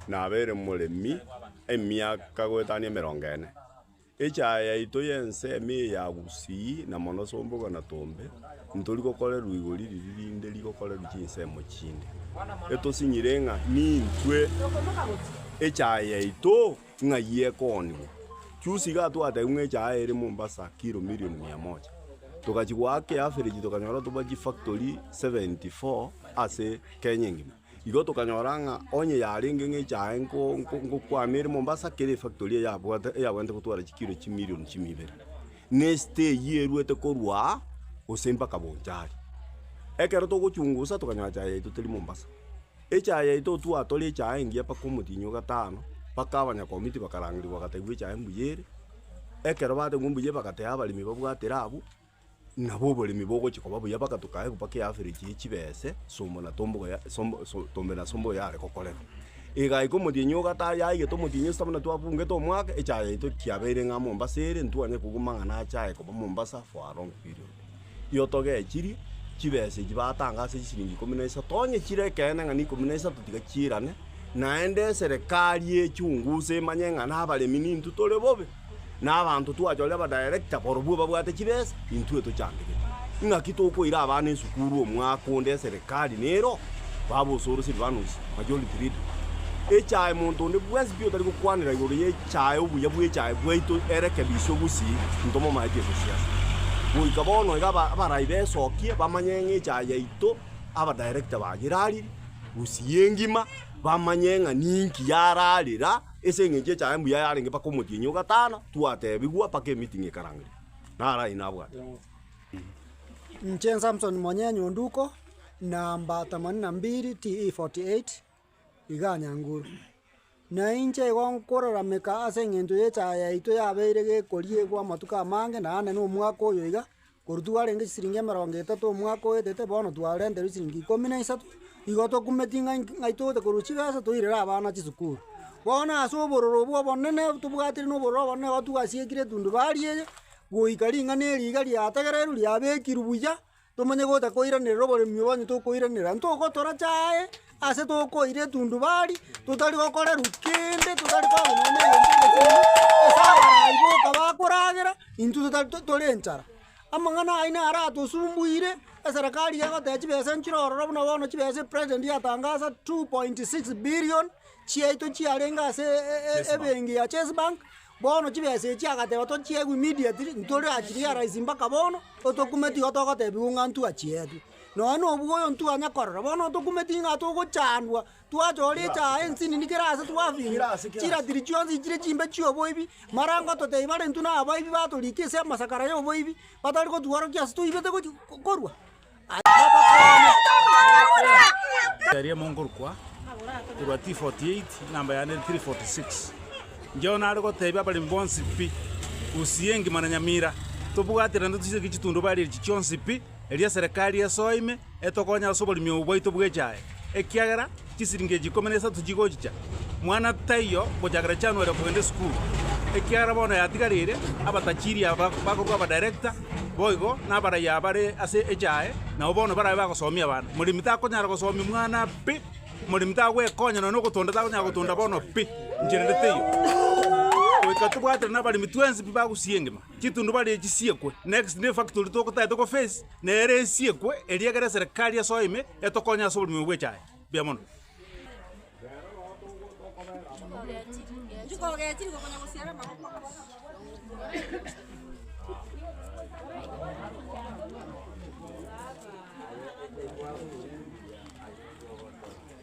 Nabeire moremi emiaka goetania emerongo ene. Echaaya yaito y'ensemo eye ya Gusii na mono Sombogo na Tombe nitori gokorerwa igori riria rinde rigokorerwa chinsemo chinde. Etosinyire ng'a nintwe echaaya yaito. Ng'ai ekoonigwa? Juzi iga twatebigwe ng'a echaaya ere Mombasa kilo milioni mia moja. Togachia goaka eaverage tokanyora toba chifactory 74 ase Kenya engima. Igo tokanyora ng'a onye yarenge ng'a echaaya nko- nko- ngokwama ere Mombasa, kera efactory eyabwate eyabwenerete gotwara chikilo chimilioni chime ibere, na esite eywo eruete korwa aa gose mpaka Bonchari. Ekero togochungusa tokanyora echaaya yaito teri Mombasa. Echaye yaito otwatore echaye engiya mpaka omotienyi o gatano, mpaka abanyakomiti bakarangerigwa bagategwa echaye mbuya ere, ekero bategwa mbuya ere bagateha abaremi babwatire abwo, nabo oboremi bogochia koba buya mpaka tokaegwa mpaka eaverage ya chibese somo na tombogo ya sombo so tombe na sombogo yare gokorera. Egaika omotienyi o gatano yaigete omotienyi esita buna twabungete omwaka, echaye yaito kiabeire ng'a Mombasa ere, ntwanyare kobua amang'ana achaye koba Mombasa for a long period. Tiotogechirie chibesa echi batanga ase chisiringi ikomi na isato, onye chire ekeene ng'a n'ikomi na isato tiga chiirane, naende eserekari ye chungu se emanye ng'a nabaremi nintwe tore bobe, na abanto twachorire abadirector barobwo babwate chibesa, intwe tochandegete. Ing'aki tokoira abana esukuru omwaka onde eserekari nero? Baba osoro Silvanus, majority leader. Echae monto onde bwensi pi otari gokwanera igoro ye. Chaye obuya bw'echaye bwaito erekebiswe gusii ntomo maeti ase siasa. Goika bono iga abarai besokie bamanye ng'a echaye yaito aba director baye erariri gusii engima bamanye ng'a ninki yararira ase eng'encho echaye mbuya yarenge mpaka omotienyi ogatana twatebigwa mpaka emeeting ekarangeria. Naro ayio nabwate. Inche Samson Monyee Nyonduko, namba themanini na mbili TE 48. iga anyanguru. Na inche igo nkorarameka ase eng'encho y'echaye yaito yabeire gekori egwo amatuko amange naende na omwaka oyo iga, korwa twarenge chisiringi emerongo etato omwaka oetete bono twarenterwa chisiringi ikomi na isato, igo tokumeti ng'a inki ng'ai togote korwa chibesa toirere abana chisukuru. Bono ase obororo obwo obonene tobwatire na obororo obonene igo twasiekire etundubaria eye, goika ring'ana eri iga riategererwe riabekirwe buya. Tomanye gotakoiranerera oboremio onye tokoiranerera, ntogotoracha aye ase tokoira etundubari, totari gokorerwa kende, totari korwa nonya egento egetang'ani, ase abarai boka bakoragera, intwe totari tore enchara. Amang'ana ayio naro aratosumbuire, eserekari iga egoteba chibesa nchire ororo buna bono chibesa president yatangasa two point six billion chiaito chiarenge ase ebenki ya chase bank. Bono chibesa echi agateba tochiegwe immediately, ntore achirealize mpaka bono, otokume tigo togotebigwa ng'a ntwachietwe. Nonya nobua oyo ntwanya korora, bono otokume ting'a togochandwa, twacha ore echaye ensinini kera ase twafinywa, chiratiri chionsi chire chimbe chioboibi, marango totebi bare intwe nabaibi batorika ase amasakara yoboibi, batari gotworokia ase toibete gochi korwa. Eria monkorokwa korwa T48, enamba yane ere 346. Incheo nare goteebia abaremi bonsi pi, Gusii engima na Nyamira, tobwate naende toiseke chitundubari echi chionsi pi, erio eserekari esoe ime etokonye ase oboremi obo bwaito bw'echae, ekiagera Chisiringi echi ikomi na isato chigochicha, mwana taiyo gochakera January okogenda esukuru, ekiagera bono yatigarire abatachiri aba bakorwa abadirector boigo nabaraiya bare ase echae nabo bono barabe bagosomia abana. Moremi takonyara gosomia omwana pi, moremi tagwekonya nonya ogotonda takonyara gotonda bono pi, inche rende teiyo. Goika tobwatire nabaremi twensi pi bagusua engima. Chitundubari echi siekwe. Next ne factory togotagete ko face nere esiekwe eria egere eserekari ya soa ime etokonye ase oborimo bwechae. Mbuya mono.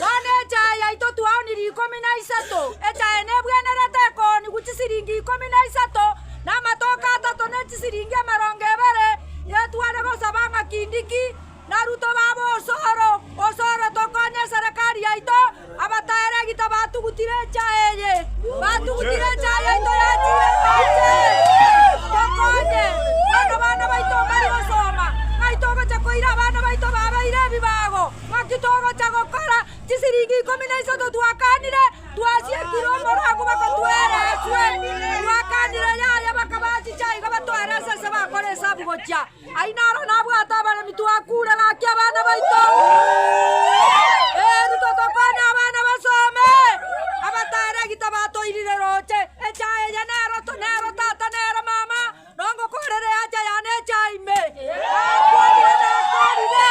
Bono echae yaito twaonire ikomi na isato, echae nebwenerete ekoonigwa chisiringi ikomi na isato, na amatoke atato ne chisiringi emerongo ebere, yetware gosaba ng'a kindiki narutwe babe osoro, osoro tokonye eserekari yaito. Abataeregi tabatugutire echae eye, batugutire echae yaito yachire Nyasae tokonye, bono bana baito mbare osoma, ng'ai togocha koira abana baito babeire ebibago. Naki togocha gokora chisiringi ikomi na isato twakaanire twasiekire omorwago bakotwera eswe. Twakaanire yaye bakabaa chicha iga batwere ase ase bakore esabu gochia ai naro nabwate abaremi twakuure gaki abana baito. Eritwe tokonye abana basome. Abatare gita batoirire roche. Echa eye nero to nero tata nere mama. Nongokorere eacha yane echa ime, Nakoorire, nakoorire.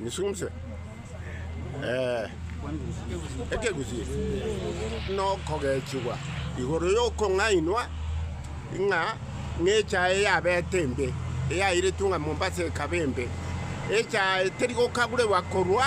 Nisumse. Eh, ekegusii nokogechigwa igoro yokong'ainwa ng'a ng'echae yabete embe eyairetwe ng'a Mombasa ekaba embe echae teri gokaguregwa korwa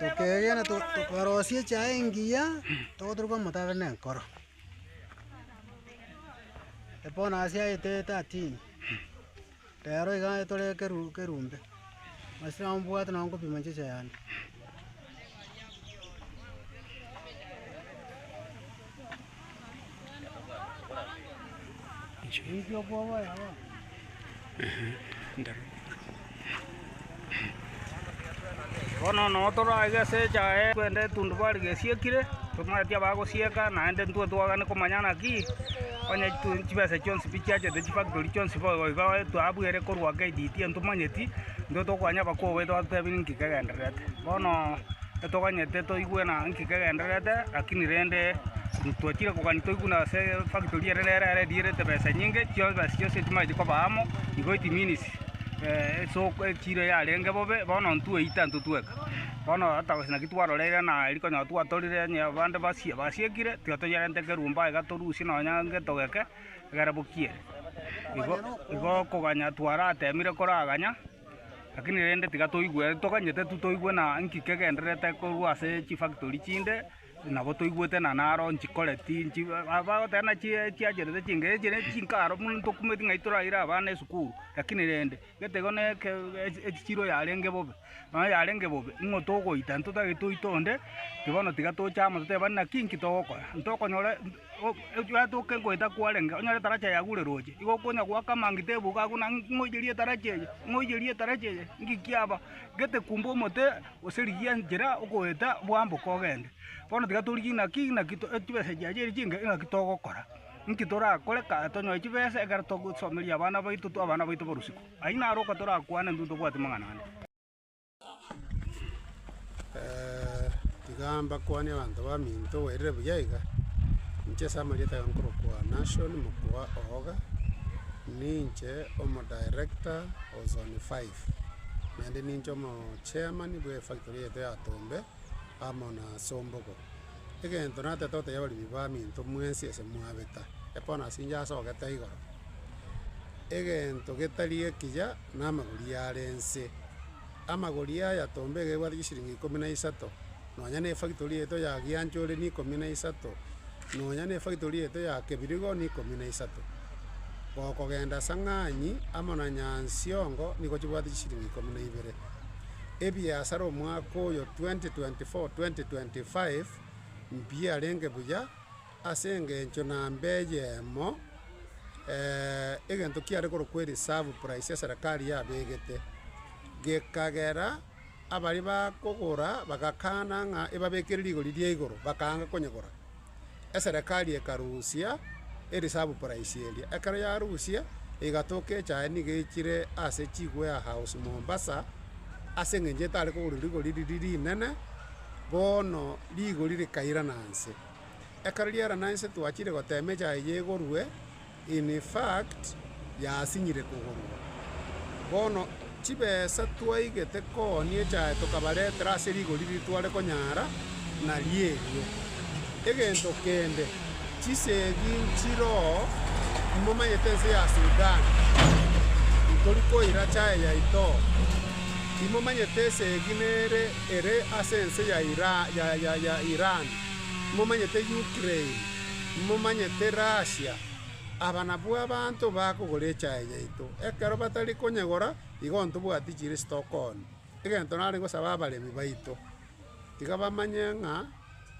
Tokeegena tokarosia echae engiya, togoturuka omotaro na enkoro. Epona ase aye tetatini, rero iga etore ekeru ekerumbe, masira ombwate nonye nkopima inche echae yane. Bono nao toraige ase echaye twende etundubari gesiekire, tomanyeti abagosieka, naende intwe twagane komanya naki onye tu chibesa chionsi pi chiachete chifactory chionsi boigo igo etwa abwo ere korwa KDT ntomanyeti, intwe tokoanya abakong'u baito batotebie ninki kegendererete. Bono. Titoganyete toigwe ng'a nki kegendererete, lakini rende intwachire kogania toigwe ng'a ase efactory ere nere ere edierete besa enyinge, chibesa chionsi echi machia koba amo, igo it means esoko echiro yarenge bobe, bono intwe eita intwe tweka. Bono hata gose naki twaroreire ng'a erio konya twatorire onye abande basie basiekire, tiga toyerente kerumbe aiga torusie nonya egento geke, egere bokie ere. Igo igo okoganya twaratemire koraganya. Lakini rende tiga toigwe, toganyete tu toigwe na nki kegendererete korwa ase chifactory chinde, nabo toigwete na naro nchikoreti, nchi ba- bagoteba ng'a chi chiacherete chinke, echi ne chinka aro buna tokumeti ng'a toraire abana esukuru, lakini rende, gete igo ne eke ech- echichiro yarenge bobe, nonya yarenge bobe, ing'o togoita, ntotagete oite onde, ki bono tiga toche amo totebane naki nki togokora, ntokonyora. Ogwetoke goeta kwarenge, onyore etarachi eye yagure roche, igo okonya goaka amangita ebugo agwo na ng'oiyerie etarachi eye, ng'oiyerie etarachi eye, ng'iki aba, gete kumbe omote gose rigiya enchera okoeta bwamboke ogende. Bono tiga torigie naki naki to chibesa chiaye chiria chinke naki togokora, nki torakore ka tonyore chibesa ekero togosomeria abana baito abana baito borosiko. Ayio naro okotorakwane intwe ntobwate amang'ana ande. tiga mbakwane abanto baminto bairire buya iga, inche ase amarieta aya nkorokwa Nashon Mokua Ooga, ninche omodirector o zone five, naende ninche omochairman bw'efactory eyete ya Tombe amo na Sombogo. egento natete gotebia abaremi baminto mwensi ase mwabeta, ekorwa nase inche asogete aiga ororo, egento getari ekiya namagori are nse, amagori aya tomba iga ebwate chisiringi ikomi na isato, nonya ne efactory yaito ya giancha ore ne ikomi na isato, nonya ne efactory yaito ya kebirigo ne ikomi na isato. Gokogenda ase ang'anyi amo na nyansiongo nigo chibwate chisiringi ikomi na ibere. ebiasara omwaka oyo 2024-2025 mbiarenge buya ase engencho namba eyemo egento kiare korokwa ereserve price ya serikari yabegete, gekagera abaria bakogora bagakana ng'a ebabekere rigori ria igoro bakaanga konyegora. eserekari ekarusia erisabu praisi eria. Ekero yarusia, egatoka echae nigo echire ase chigwea house Mombasa, ase eng'encho etare kogorwa rigori riria rinene, bono rigori rikairana nse. Ekero riairana nse twachire gotema echae eye egorwe, In fact, yasinyire kogorwa. Bono chibesa twaigete koonia echae tokabaretera ase rigori ritware konyara narierio. Egento kende, chisegi nchiroo, momanyete ense ya Sudan, ntori koira chae yaitoo. Timomanyete esegi nere ere ase ense ya Iran, timomanyete Ukraine. Imomanyete rasia, aba nabwo abanto bakogora echae yaito, ekero batari konyegora, igo ntobwati chirisito kooni. Egento nare gosaba abaremi baito, iga bamanye ng'a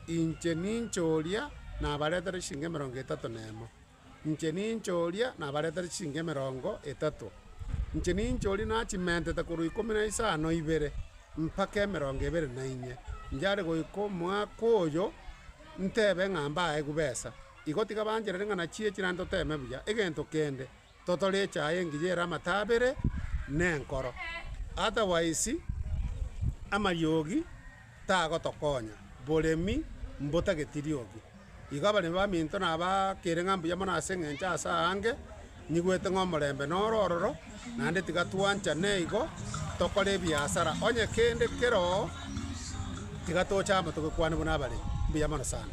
inche ninche oria nabaretere chisiringi emerongo etato na emo, inche ninche oria nabaretere chisiringi emerongo etato, inche ninche oria nachimentete korwa ikomi na isano ibere, mpaka emerongo ebere na inye, inche are goika omwaka oyo. Ntebe ng'a mbae gubesa, igo tiga bancherere ng'a nachie chirande toteme buya egento kende totore echaye engiya ere amataa abere nenkoro, otherwise amariogi tagotokonya, boremi mbotageti riogi. Igo abaremi baminto nabaakere ng'a mbuya mono ase engencho ase aange. Nyigwete ng'a omorembe noro ororo, naende tiga twanchane igo, tokore ebiasara onye kende keroo, tiga toche amo togekwane buna abaremi. Mbuya mono sana.